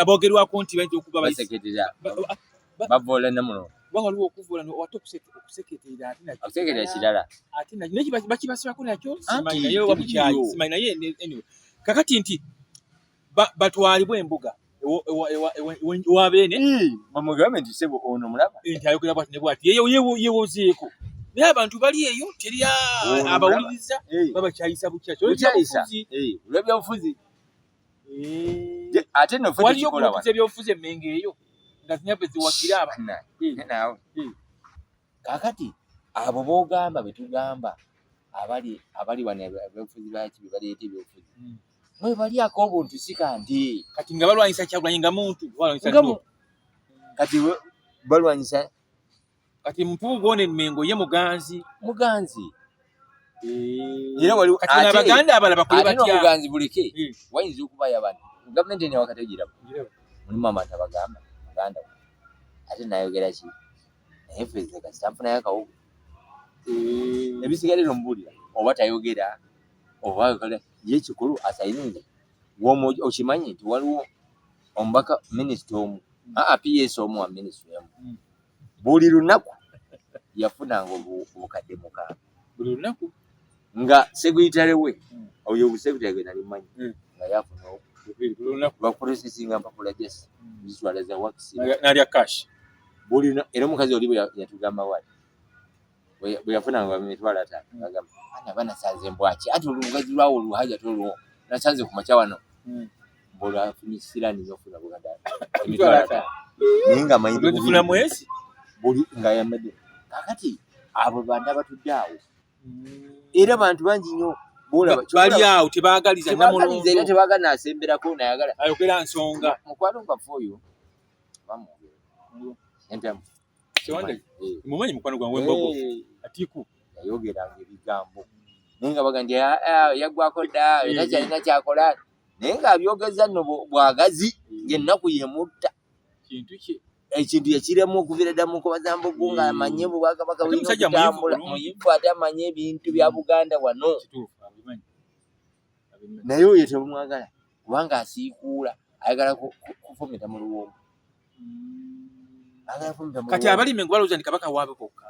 abogerwako nti bayinza okuba bavoola namuno kuba waliwo okuvoola ate okuseketerera ateokuseketerera kirala ate naye bakibasibako nakyo simanyi naye oba bukyayi simanyi naye kakati nti batwalibwa embuga ewa beene bamugambe nti sebo ono mulaba nti ayogera bwati ne bwati yewozeeko naye abantu bali eyo teri abawuliriza babakyayisa bukyakyakyayisauzi olwebyobufuzi ate nofewaliyo okubukiza ebyobufuzi emmengo eyo nga zinyabwe ziwagira abana nawe kakati abo bogamba betugamba abali abali wano ebyobufuzi baki bebaleeta ebyobufuzi mwebalyako obuntu si kanti kati nga balwanyisa kyagulanyi nga muntu kati balwanyisa kati mpuuga one mengo ye muganzi muganzi eh. era waliwo kati abaganda abala bakole batya muganzi buleke eh. wayinza okuba yabana gavumenti ene wakategira mulimu abantu abagamba muganda we ate nayogera ki naye fezeka sitamfunayo akawugu eh. ebisigalira omubulira oba tayogera oba ayogera ye kikulu asayinire womu okimanyi nti waliwo omubaka minisita omu aps omu wa minisita emu hmm. buli lunaku yafunanga obukadde mukaaga buli lunaku nga segwitale we hmm. oyo obusegwitale gwe nali manyi hmm. nga yafuna bakurosesinga mpapula jasi ziswala za wakisi nalya kash buli era omukazi oli bwe yatugamba wali bwe yafuna nga mitwala ta agamba ana bana saze mbwaki ati olugazi lwawo oluhaja tolwo nasanze ku makya wano hmm. bola afuni silani yofuna buganda mitwala ta ninga mayindi bufuna mwezi buli nga yamede kakati abo banda batudde awo hmm. era bantu bangi nyo bali awo tebagaliza namulunzi era tebagala nasemberako nayagala ayogera nsonga mukwano nga foyo bamwogera hmm. entamu Sewande mumanyi mukwano gwange embogo atiku yayogera ebigambo naye nga bagandi ah, ah, yaggwako dda era kyalina kyakola naye ng'abyogeza nno bwagazi ng'ennaku yemutta kintu kye ekintu yekiremu okuvira dda mukubaza mbugu nga hmm. amanye bubwakabaka bulina okutambula muyivu ate amanye ebintu bya hmm. buganda wano naye oyo tebumwagala kubanga asiikuula ayagala kufumita mu luwombo kati abalimi nga balowooza nti kabaka waabwe bokka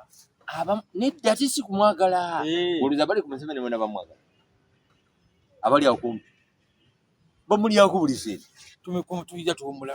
nedda ate si kumwagala eh. olowooza bali ku museveni bona bamwagala abali akumpi bamulyako buli seeri tumekumu tuyija tuwumula